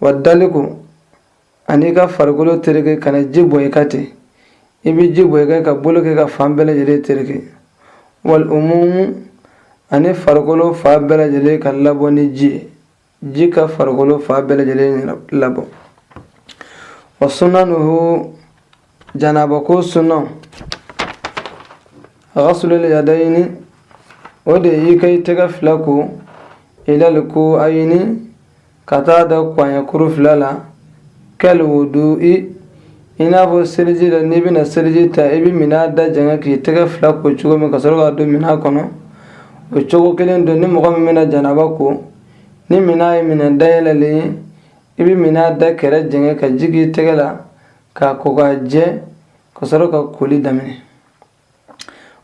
wa daliku ani i ka farikolo tereke kana ji bɔn i kan ten i bɛ ji bɔn i kan ka bolo kɛ ka fan bɛɛ lajɛlen tereke wali umumu ani farikolo fan bɛɛ lajɛlen ka labɔ ni ji ye ji ka farikolo fan bɛɛ lajɛlen labɔ wa sunanuhu janaba ko sunna ghasulul yadayni o de y'i ka i tɛgɛ fila ko ilal ku'ayini ka taa da kɔɲɛkuru fila la kal wudu'i i n'a fɔ seliji la n'i bɛna seliji ta i bɛ minɛn da jɛngɛ k'i tɛgɛ fila ko cogo min ka sɔrɔ k'a don minɛn kɔnɔ o cogo kelen don ni mɔgɔ min bɛna janaba ko ni minɛn ye minɛn dayɛlɛlen ye i bɛ minɛn da kɛrɛ jɛngɛ ka ji k'i tɛgɛ la ka ko ka jɛ ka sɔrɔ ka koli daminɛ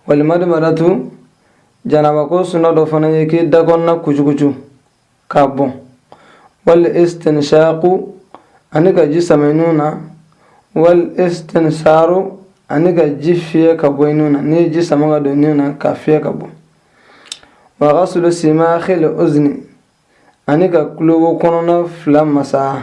wali madimadatu janabako suna dɔ fana ye k'i da kɔnɔna kucukucu ka bɔn wali istinshaku ani ka ji sama i nun na wali istinsaru ani ka ji fiyɛ ka bɔ i nun na n'i ye ji sama ka don nun na ka fiyɛ ka bɔ wa ghaslu simakhil uzni ani ka kulo wo kɔnɔna fila masaa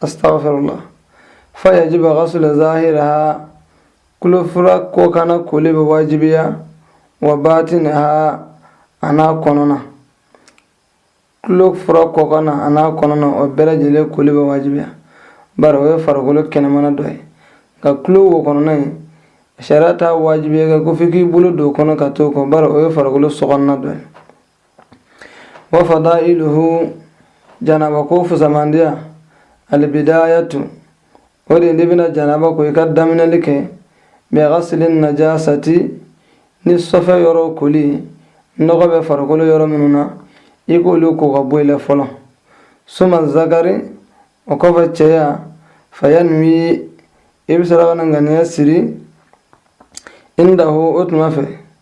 astagfirullah fa yajibu ghaslu zahiraha kulo fura kɔkanna koli bɛ wajibiya wa batinaha an'a kɔnɔna kulo fura kɔkanna an'a kɔnɔna o bɛɛ lajɛlen koli bɛ wajibiya bari o ye farikolo kɛnɛmana dɔ ye nka kulo wo kɔnɔna in sariya t'a wajibiya i kan ko f'i k'i bolo don o kɔnɔ ka t'o ko bari o ye farikolo sokɔnɔna dɔ ye Wa fadailuhu janaba ko fusamandiya albidayatu o de n'i bɛna janaba ko i ka daminɛli kɛ bighasli najasati ni sɔfɛ yɔrɔ koli nɔgɔ bɛ farikolo yɔrɔ minnu na i k'olu ko ka bɔ i la fɔlɔ summa zakari o kɔfɛ cɛya fayanwi i bɛ sɔrɔ ka na ŋaniya siri indahu o tuma fɛ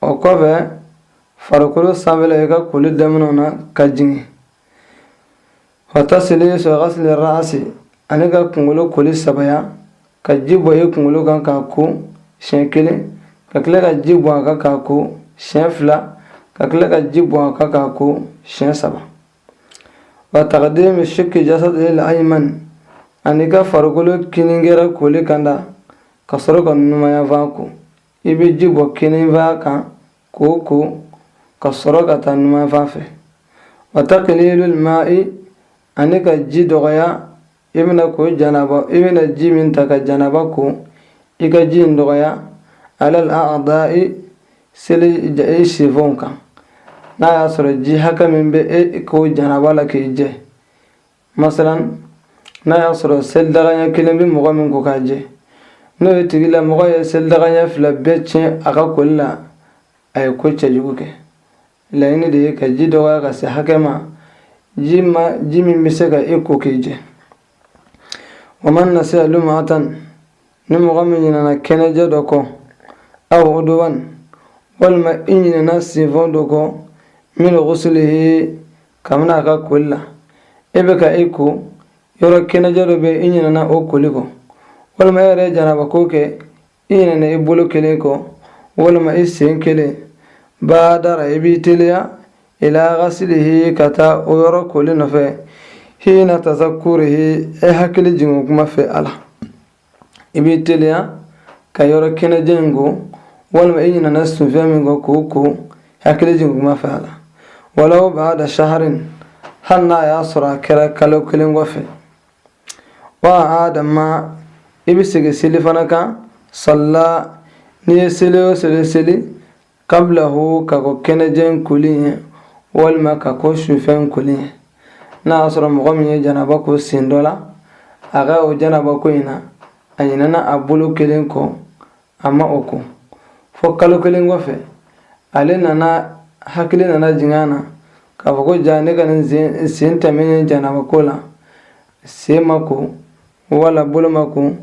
O kɔfɛ farikolo sanfɛla i ka koli daminɛ na ka jigin wa tasilisu ghasli ra'si ani ka kunkolo koli sabaya ka ji bɔn i kunkolo kan k'a ko siɲɛ kelen ka tila ka ji bɔn a kan k'a ko siɲɛ fila ka tila ka ji bɔn a kan k'a ko siɲɛ saba wa taqdimu shiki jasadil ayimani ani ka farikolo kinin kɛrɛ koli kanda ka sɔrɔ ka numanyanfan ko i bɛ ji bɔn kininfan kan k'o ko ka sɔrɔ ka taa numanfan fɛ wa taqlilul ma'i ani ka ji dɔgɔya i bɛna ko janaba i bɛna ji min ta ka janaba ko i ka ji in dɔgɔya alal a'da'i seliji sinfɔnw kan n'a y'a sɔrɔ ji hakɛ min bɛ e ko janaba la k'i jɛ masalan n'a y'a sɔrɔ selidaga ɲa kelen bɛ mɔgɔ min ko k'a jɛ n'o ye tigilamɔgɔ ye selidaga ɲa fila bɛɛ tiɲɛ a ka koli la a ye ko cɛjugu kɛ laɲini de ye ka ji dɔgɔya ka se hakɛ ma ji ma ji min bɛ se ka e ko k'i jɛ wa man nasiya lumu'atan ni mɔgɔ min ɲinana kɛnɛjɛ dɔ kɔ aw uduwan walima i ɲinana sinfɔn dɔ kɔ min ghuslihi kabini a ka koli la e bɛ ka e ko yɔrɔ kɛnɛjɛ dɔ bɛ i ɲinɛna o koli kɔ walima e yɛrɛ janaba ko kɛ i ɲinɛna i bolo kelen kɔ walima i sen kelen baadara i b'i teliya ila ghaslihi ka taa o yɔrɔ koli nɔfɛ hiina tazakkurihi e hakili jigin kuma fɛ a la i b'i teliya ka yɔrɔ kɛnɛjɛ in ko walima i ɲinana sunfɛn min kɔ k'o ko hakili jigin kuma fɛ a la walaw baada shaharin hali n'a y'a sɔrɔ a kɛra kalo kelen kɔfɛ wa a'aada maa i bɛ segin seli fana kan sallaa n'i ye seli o seli seli qablahu ka kɔn kɛnɛjɛ in koli ɲɛ walima ka kɔn sufɛn in koli ɲɛ n'a y'a sɔrɔ mɔgɔ min ye janaba ko sen dɔ la a ka o janaba ko in na a ɲinɛna a bolo kelen kɔ a ma o ko fo kalo kelen kɔfɛ ale nana hakili nana jigin a na k'a fɔ ko jaa ne ka nin sen tɛmɛnen janaba ko la sen ma ko wala bolo ma ko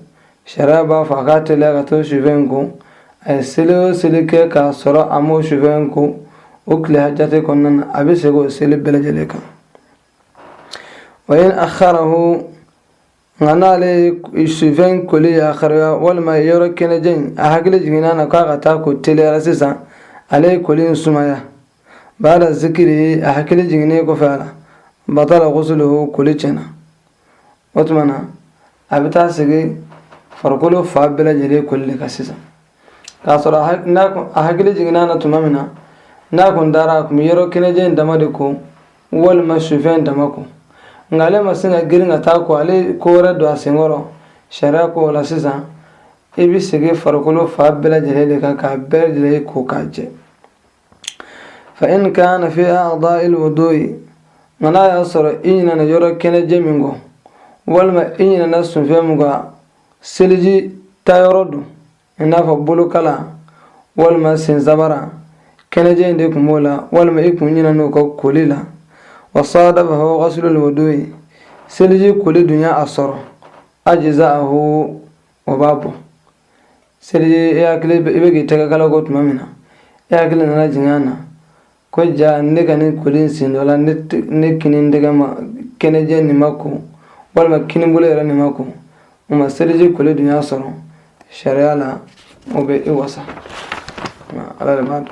sariya b'a fɔ a k'a teliya ka t'o sufɛn in ko a ye seli o seli kɛ k'a sɔrɔ a m'o sufɛn in ko o tile jate kɔnɔna na a bɛ segin o seli bɛɛ lajɛlen kan wa in akharahu nka n'ale ye sufɛn in koli yakharuya walima yɔrɔ kɛnɛjɛ in a hakili jiginna a na k'a ka taa a ko teliya la sisan ale ye koli in sumaya baada zikirihi a hakili jiginnen kɔfɛ a la batala ghusluhu koli tiɲɛna o tuma na a bɛ taa segin farikolo fan bɛɛ lajɛlen koli de kan sisan k'a sɔrɔ a hakili jiginna na tuma min na n'a kun taara a kun bɛ yɔrɔ kɛnɛjɛ in dama de ko walima sufɛn in dama ko nka ale ma sin ka girin ka taa a ko ale ko wɛrɛ don a senkɔrɔ sariya ko o la sisan i bɛ segin farikolo fan bɛɛ lajɛlen de kan k'a bɛɛ lajɛlen ko k'a jɛ fa in kaana fi acdaa'i lwuduu'i ma n'a y'a sɔrɔ i ɲinɛna yɔrɔ kɛnɛjɛ min kɔ walima i ɲinɛna sunfɛn min kɔ seliji ta yɔrɔ don i n'a fɔ bolokala walima sensabara kɛnɛjɛ in de tun b'o la walima i kun ɲinɛna o kɔ koli la wa saadafahu ghaslu lwuduu'i seliji koli dun y'a sɔrɔ ajza'ahu o b'a bɔ seliji e hakili i bɛ k'i tɛgɛ kala ko tuma min na e hakili nana jigin a na ko ja ne ka nin koli in sen dɔ la ne kini tɛgɛ ma kɛnɛjɛ nin ma ko walima kinibolo yɛrɛ nin ma ko o ma seliji koli dun y'a sɔrɔ sariya la o bɛ e wasa ala de b'a dɔn